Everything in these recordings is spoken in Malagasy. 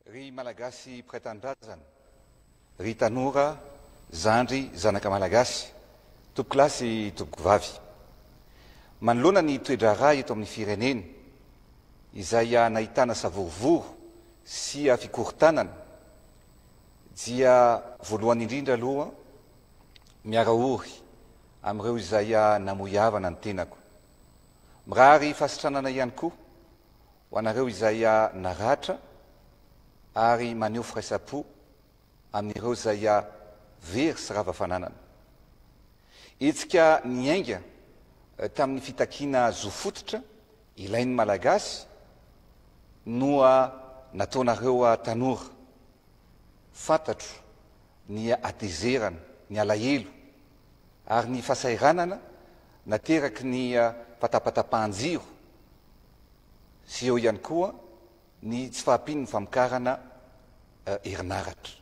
Ry Malagasy mpiray tanindrazana, ry tanora, zandry, zanaka Malagasy, tompokolahy sy tompokovavy. Manoloana ny toe-draharaha eto amin'ny firenena, izay nahitana savorovoro sy fikorontanana, dia voalohany indrindra aloha miara ory amin'ireo izay namoy havana ny tenako. Mirary fahasitranana ihany koa ho anareo izay naratra ary maneho firaisam-po amin'ireo izay very sy rava fananana. Hetsika niainga tamin'ny fitakiana zo fototra Ilain'ny Malagasy noa nataonareo ahy tanora. Fantatro ny hatezerana, ny alahelo ary ny fasahiranana nateraky ny fatapatapahan-jiro sy eo ihany koa ny tsy fahampian'ny famokarana herinaratra.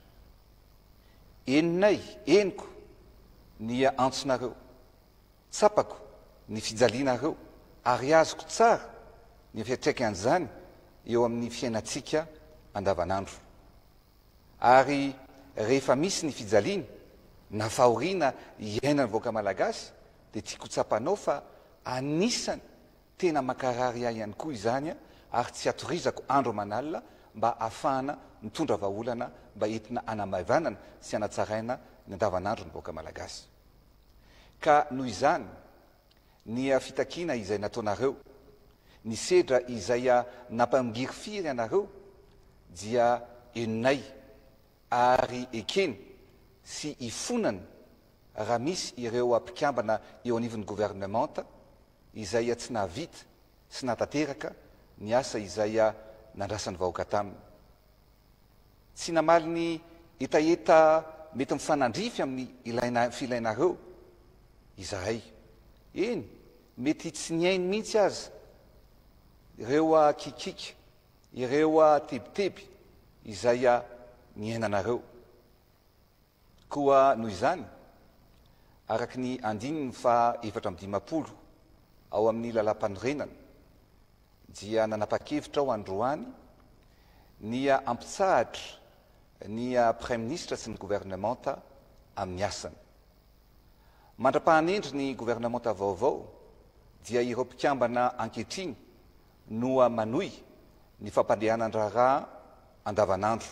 Henonay, henoko ny antsonareo. Tsapako ny fijalianareo ary azoko tsara ny fiantraikan'izany eo amin'ny fiainantsika andavanandro. Ary rehefa misy ny fijaliana na fahoriana iainan'ny vahoaka malagasy dia tiako ho tsapanao fa anisany tena mankarary ahy ihany koa izany ary tsy hatorizako andro aman'alina mba hahafahana mitondra vahaolana mba entina hanamaivanana sy hanatsaraina ny andavanandron'ny vahoaka malagasy. Ka noho izany, ny fitakiana izay nataonareo, ny sedra izay nampangirifiry anareo dia henonay, ary ekeny sy ifonany raha misy ireo mpikambana eo anivon'ny governemanta izay tsy nahavita sy nahatanteraka ny asa izay nandrasan'ny vahoaka taminy. Tsy namaly ny hetaheta mety mifanandrify amin'ny ilaina filainareo izahay. Eny, mety tsy nihaino mihitsy aza ireo kikiky, ireo tebiteby izay niainanareo. Koa noho izany, araka ny andininy faha efatra amby dimampolo ao amin'ny Lalàmpanorenana, dia nanapa-kevitra aho androany ny hampitsahatra ny Praiminisitra sy ny Governemanta amin'ny asany. Mandra-pahanendry ny Governemanta vaovao dia ireo mpikambana ankehitriny no manohy ny fampandehanan-draharaha andavanandro.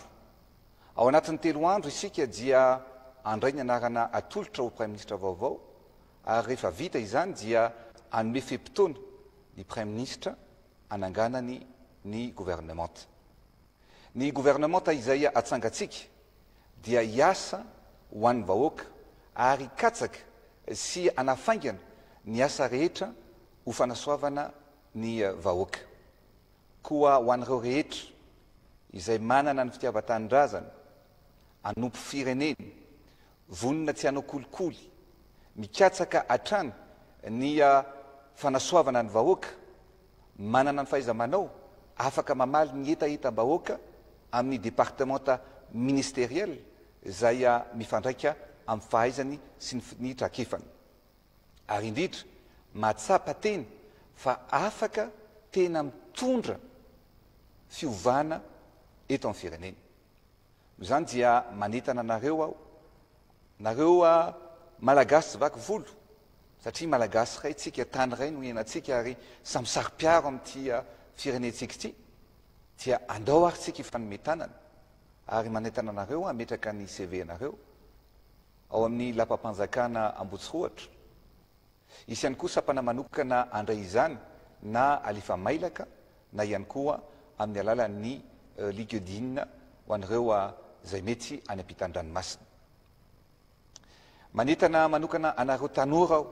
Ao anatin'ny telo andro isika dia handray ny anarana atolotra ho Praiminisitra vaovao ary rehefa vita izany dia hanome fe-potoana ny Praiminisitra hananganany ny governemanta. Ny governemanta izay hatsangantsika dia hiasa ho an'ny vahoaka ary hikatsaka sy hanafaingana ny asa rehetra ho fanasoavana ny vahoaka. Koa ho an'ireo rehetra izay manana ny fitiavan-tanindrazana, hanompo fireneny, vonona tsy hanao kolikoly, mikatsaka hatrany ny fanasoavana ny vahoaka, manana ny fahaiza-manao, afaka mamaly ny hetahetam-bahoaka amin'ny departemanta ministeriel izay mifandraika amin'ny fahaizany sy ny trakefany. Ary indrindra, mahatsapa teny fa afaka tena mitondra fiovana eto amin'ny firenena. Noho izany dia manentana anareo aho, nareo Malagasy tsy vaky volo, satria Malagasy iray tsika, tany iray no ianantsika ary samy saro-piaro amin'ity firenentsika ity, dia andao ary tsika hifanome tanana. Ary manentana anareo hametraka ny CV-nareo Ao amin'ny lapam-panjakana Ambohitsorohatra. Hisy ihany koa sampana manokana handray izany na alefa mailaka na ihany koa amin'ny alalan'ny Linkedin ho an'ireo izay mety any am-pitan'ny ranomasina. Manentana manokana anareo tanora aho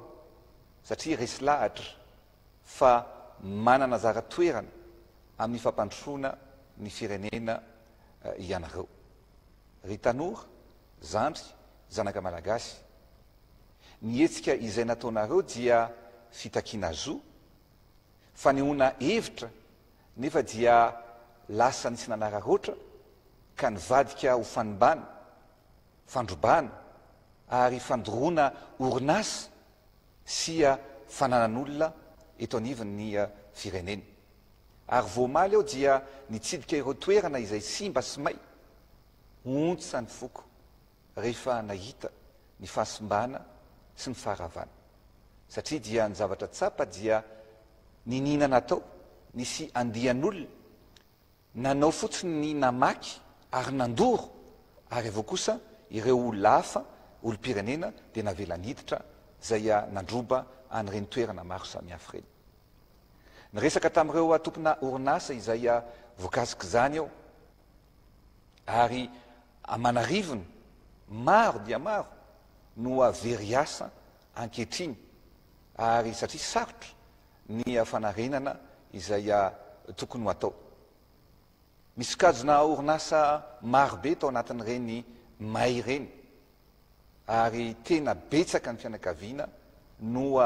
satria resy lahatra fa manana anjara toerana amin'ny fampandrosoana ny firenena ianareo. Ry tanora, zandry, zanaka malagasy. Ny hetsika izay nataonareo dia fitakiana zo, fanehoana hevitra nefa dia lasa nisy nanararaotra ka nivadika ho fanimbana, fandrobana ary fandoroana orinasa sy fananan'olona eto anivon'ny firenena. Ary vao omaly aho dia nitsidika ireo toerana izay simba sy may, ontsa ny foko rehefa nahita ny fahasimbana sy ny faharavana. Satria dia ny zavatra tsapa dia niniana natao nisy andian'olona Nanao fotsiny ny namaky ary nandoro ary avy eo kosa ireo olona hafa, olom-pirenena dia navelany hiditra izay nandroba an'ireny toerana maro samihafa ireny. Niresaka tamin'ireo tompona orinasa izay voakasik'izany aho ary aman'arivony maro dia maro no very asa ankehitriny ary satria sarotra ny fanarenana izay tokony ho atao. Misokajina orinasa marobe tao anatin'ireny may ireny ary tena betsaka ny fianakaviana no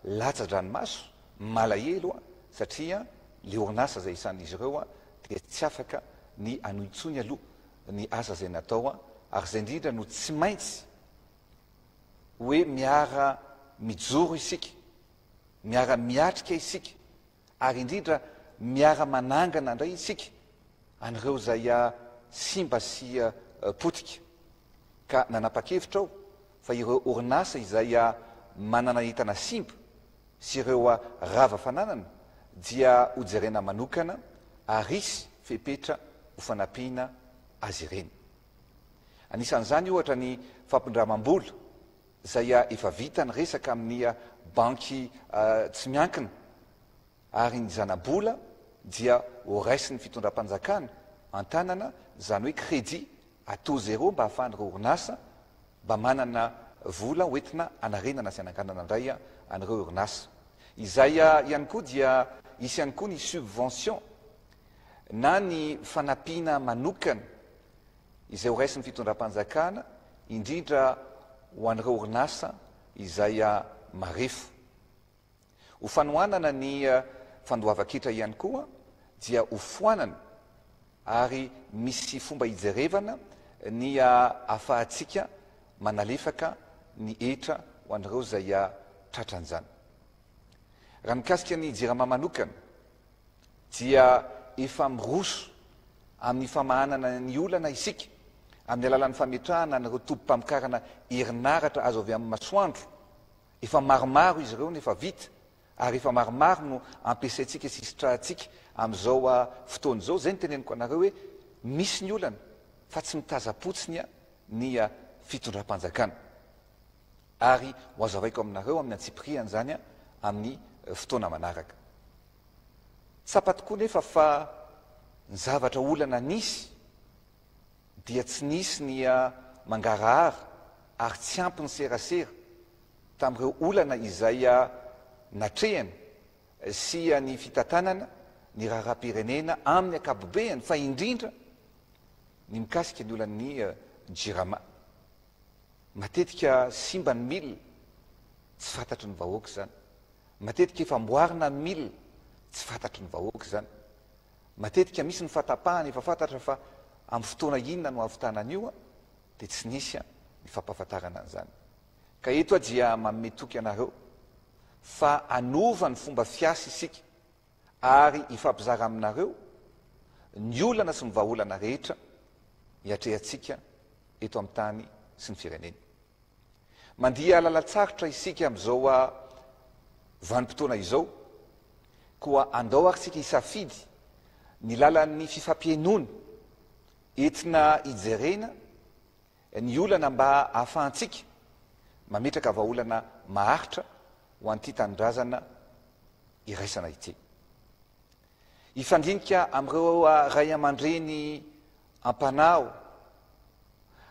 latsa-dranomaso, malahelo satria ilay orinasa izay isan'izy ireo dia tsy afaka ny hanohy intsony aloha ny asa izay natao ary izay indrindra no tsy maintsy hoe miara-mijoro isika miara-miatrika isika ary indrindra miara-manangana indray isika an'ireo izay simba sy potika. Ka nanapa-kevitra aho fa ireo orinasa izay manana entana simba sy ireo rava fananana dia ho jerena manokana ary hisy fepetra ho fanampiana azy ireny. Anisan'izany ohatra ny fampindramam-bola. izay efa vita ny resaka amin'ny banky tsy miankina ary ny zana-bola dia ho raisin'ny fitondram-panjakana an-tanana izany hoe crédit à taux zéro mba ahafahan'ireo orinasa mba manana vola ho entina anarenana sy ananganana indray an'ireo orinasa izay ihany koa dia hisy ihany koa ny subvention na ny fanampiana manokana izay ho raisin'ny fitondram-panjakana, indrindra ho an'ireo orinasa izay marefo. Ho fanohanana ny fandoavan-ketra ihany koa dia ho foanana ary misy fomba hijerevana ny ahafahantsika manalefaka ny hetra ho an'ireo izay tratran'izany. Raha mikasika ny Jirama manokana, dia efa miroso amin'ny famahanana ny olana isika amin'ny alalan'ny fametrahana an'ireo tobim-pamokarana herinaratra azo avy amin'ny masoandro. Efa maromaro izy ireo no efa vita ary efa maromaro no ampiasaintsika sy sitrahantsika amin'izao fotoana izao. Izay no teneniko anareo hoe misy ny olana fa tsy mitazam-potsiny ny fitondram-panjakana. Ary ho hazavaiko aminareo amin'ny antsipiriany izany amin'ny fotoana manaraka. Tsapa tokoa nefa fa ny zavatra olana nisy dia tsy nisy ny mangarahara ary tsy ampy ny serasera tamin'ireo olana izay natrehany sy ny fitantanana ny raharaham-pirenena amin'ny ankapobeany fa indrindra ny mikasika ny olan'ny Jirama. Matetika simba ny mil, tsy fantatry ny vahoaka izany. Matetika efa amboarina ny mil, tsy fantatry ny vahoaka izany. Matetika misy ny fahatapahana efa fantatra fa amin'ny fotoana inona no hahavitana an'io an, dia tsy nisy an, ny fampahafantarana an'izany. Ka eto aho dia manome toky anareo fa hanova ny fomba fiasa isika. ary hifampizara aminareo ny olana sy ny vahaolana rehetra iatrehantsika eto amin'ny tany sy ny firenena. Mandia lalan-tsarotra isika amin'izao a vanim-potoana izao, koa andao ary isika hisafidy ny lalan'ny fifampihenoana entina hijerena Ny olana mba ahafahantsika mametraka vahaolana maharitra ho an'ity tanindrazana iraisana ity. Hifandinika amin'ireo raiamandreny am-panahy aho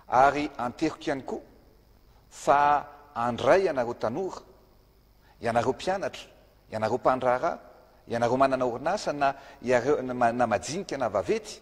ary anteriko ihany koa fa handray ianareo tanora, ianareo mpianatra, ianareo mpandraharaha, ianareo manana orinasa na na majinika na vaventy,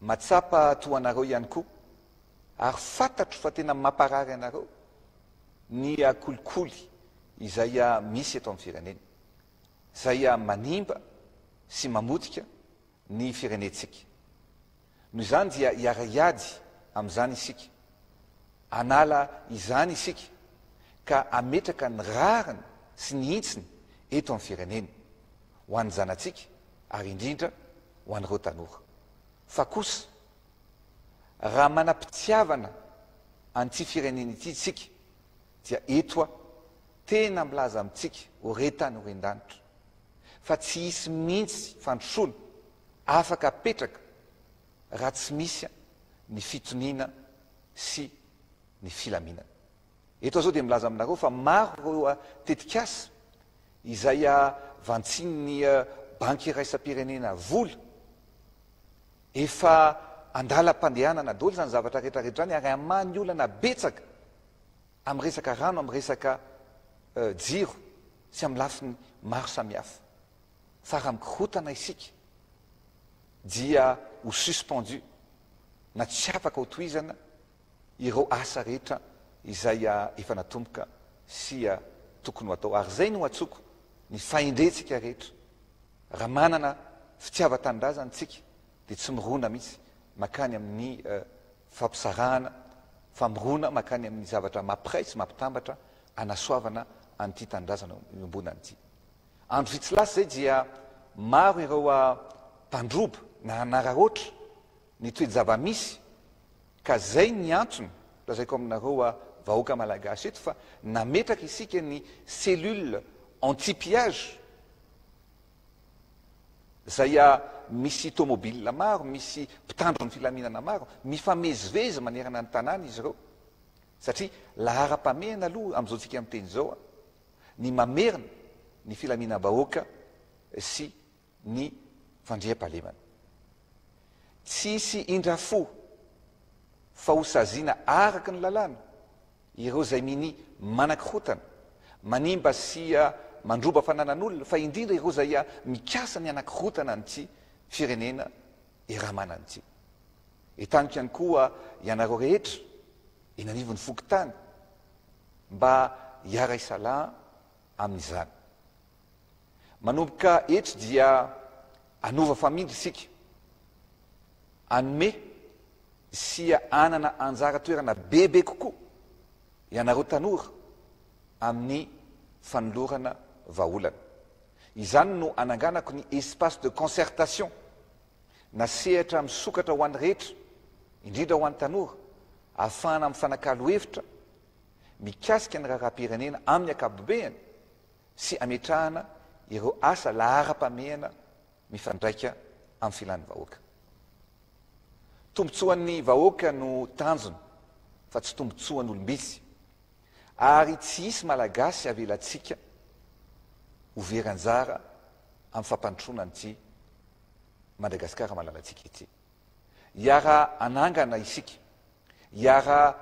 Matsapa toa anareo ihany koa ary fantatro fa tena mamparary anareo ny kolikoly izay misy eto amin'ny firenena, izay manimba sy mamotika ny firenentsika. Noho izany dia hiara-hiady amin'izany isika, hanala izany isika ka hametraka ny rariny sy ny hintsiny eto amin'ny firenena, ho an'ny zanatsika, ary indrindra ho an'ireo tanora, fa kosa raha manam-pitiavana an'ity firenena ity isika dia eto aho tena milaza amintsika ho re tany ho ren-danitra fa tsy hisy mihitsy fandrosoana afaka hapetraka raha tsy misy ny fitoniana sy ny filaminana. Eto aho izao dia milaza aminareo fa maro ireo tetikasa izay vantsin'ny Banky Iraisam-pirenena Vola. Efa an-dalam-pandehanana daholo izany zavatra rehetra rehetra izany ary hamaha ny olana betsaka amin'ny resaka rano, amin'ny resaka jiro sy amin'ny lafiny maro samihafa. Fa raha mikorontana isika dia ho suspendu na tsy afaka hotohizana ireo asa rehetra izay efa natomboka sy tokony ho atao ary izay no antsoiko ny fahendrentsika rehetra, raha manana fitiavan-tanindrazana isika dia tsy mirona mihitsy makany amin'ny fampisarahana, fa mirona makany amin'ny zavatra mampiray sy mampitambatra anasoavana an'ity tanindrazana iombonana ity. Andro vitsy lasa izay dia maro ireo mpandroba na nanararaotra ny toe-javamisy Ka zay ny antony lazaiko aminareo a vahoaka malagasy eto fa nametraka isika ny cellule anti pillage zay a misy tomobile maro misy mpitandro ny filaminana maro mifamezivezy manerana ny tanàna izy ireo satria laharam-pamehana aloha amizao tsika miteny zao a ny mamerina ny filaminam-bahoaka sy ny fandriampahalemana. Tsy hisy indrafo fa ho saziana araka ny lalàna ireo izay minia manakorotana, manimba sy mandroba fananan'olona, fa indrindra ireo izay mikasa ny hanakorotana an'ity firenena Eramanana ity. Entaniko ihany koa ianareo rehetra eny anivon'ny fokontany mba hiara-hisalaha amin'izany. Manomboka etry dia hanova famindra isika, hanome sy hanana anjara toerana bebe kokoa ianareo tanora amin'ny fanolorana vahaolana. Izany no ananganako ny espace de concertation na sehatra misokatra ho an'ny rehetra, indrindra ho an'ny tanora, ahafahana mifanakalo hevitra mikasika ny raharaham-pirenena amin'ny ankapobeny sy ametrahana ireo asa laharam-pamehana mifandraika amin'ny filan'ny vahoaka. Tombontsoan'ny vahoaka no tanjona fa tsy tombontsoan'olom-bitsy ary tsy hisy Malagasy havelantsika ho very anjara amin'ny fampandrosoana an'ity Madagasikara malalantsika ity. Hiara-hanangana isika Hiara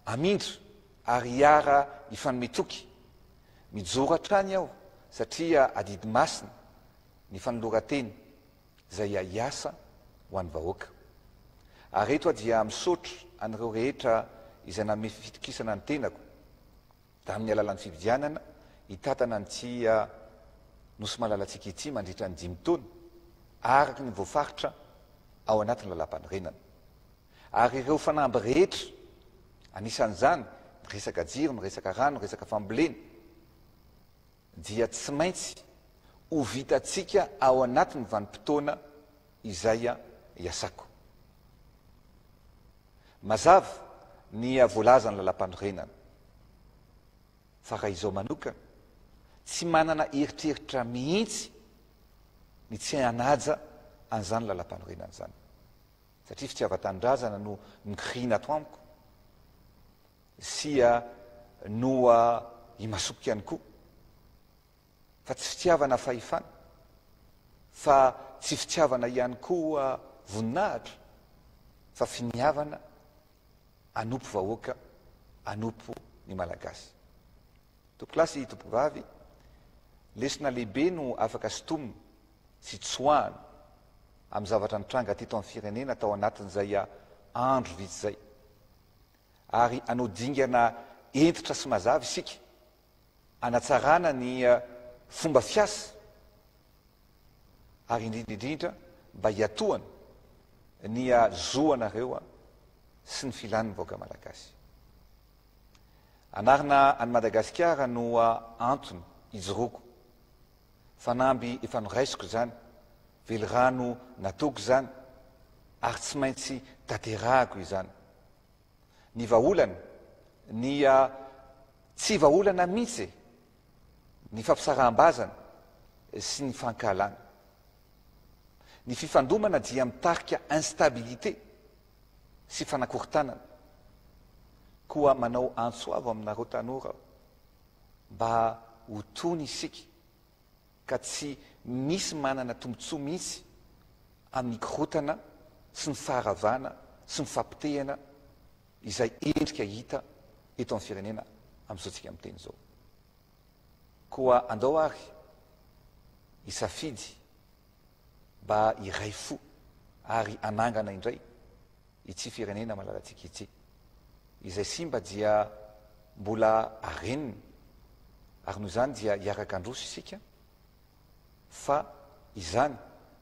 hamindra ary hiara hifanome toky. Mijoro hatrany aho satria adidy masina ny fanoloran-tena izay hiasa ho an'ny vahoaka. Ary eto aho dia misaotra an'ireo rehetra izay nanome fifitokisana ny tenako tamin'ny alalan'ny fividianana hitantana an'ity Nosy malalatsika ity mandritra ny dimy taona araka ny voafaritra ao anatin'ny Lalàmpanorenana. Ary ireo fanamby rehetra, anisan'izany ny resaka jiro, ny resaka rano, ny resaka fambolena, dia tsy maintsy ho vitantsika ao anatin'ny vanim-potoana izay iasako. Mazava ny voalazan'ny Lalàmpanorenana, fa raha izao manokana, tsy manana eritreritra mihitsy ny tsy hanaja an'izany Lalàmpanorenana izany. Satria fitiavan-tanindrazana no nigriana ato amiko, sia noa imasoko ihany koa, fa tsy fitiavana fahefana, fa tsy fitiavana ihany koa voninahitra, fa finiavana anompo vahoaka, anompo ny Malagasy. Tompokolahy sy Tompovavy, lesona lehibe no afaka sintomina fitsoahana amin'ny zavatra nitranga teto amin'ny firenena tao anatin'izay andro vitsy izay. Ary hanao dingana hentitra sy mazava isika hanatsarana ny fomba fiasa ary indrindra indrindra mba hiatohana ny zo anareo sy ny filan'ny vahoaka malagasy. Hanarina an'i Madagasikara no antony ijoroako. Fanamby efa noraisiko izany, velirano nataoko izany ary tsy maintsy tanterahako izany. Ny vahaolana, ny tsy vahaolana mihitsy e! Ny fampisaraham-bazana sy ny fankahalana. Ny fifandomana dia mitarika instabilité sy fanakorontanana. Koa manao antso avo aminareo tanora aho. mba ho tony isika ka tsy misy manana tombontsoa mihitsy amin'ny korotana sy ny faharavana sy ny fahapotehana izay endrika hita eto amin'ny firenena amin'izao tsika miteny izao. Koa andao ary hisafidy mba hiray fo ary hanangana indray Ity firenena malalantsika ity. Izay simba dia mbola arenina ary noho izany dia hiaraka handroso isika fa izany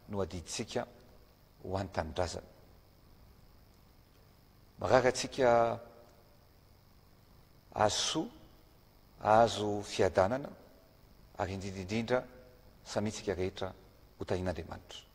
no adidintsika ho an'ny tanindrazana. Marary antsika ahazo soa, ahazo fiadanana ary indrindra indrindra samintsika rehetra ho tahin'Andriamanitra.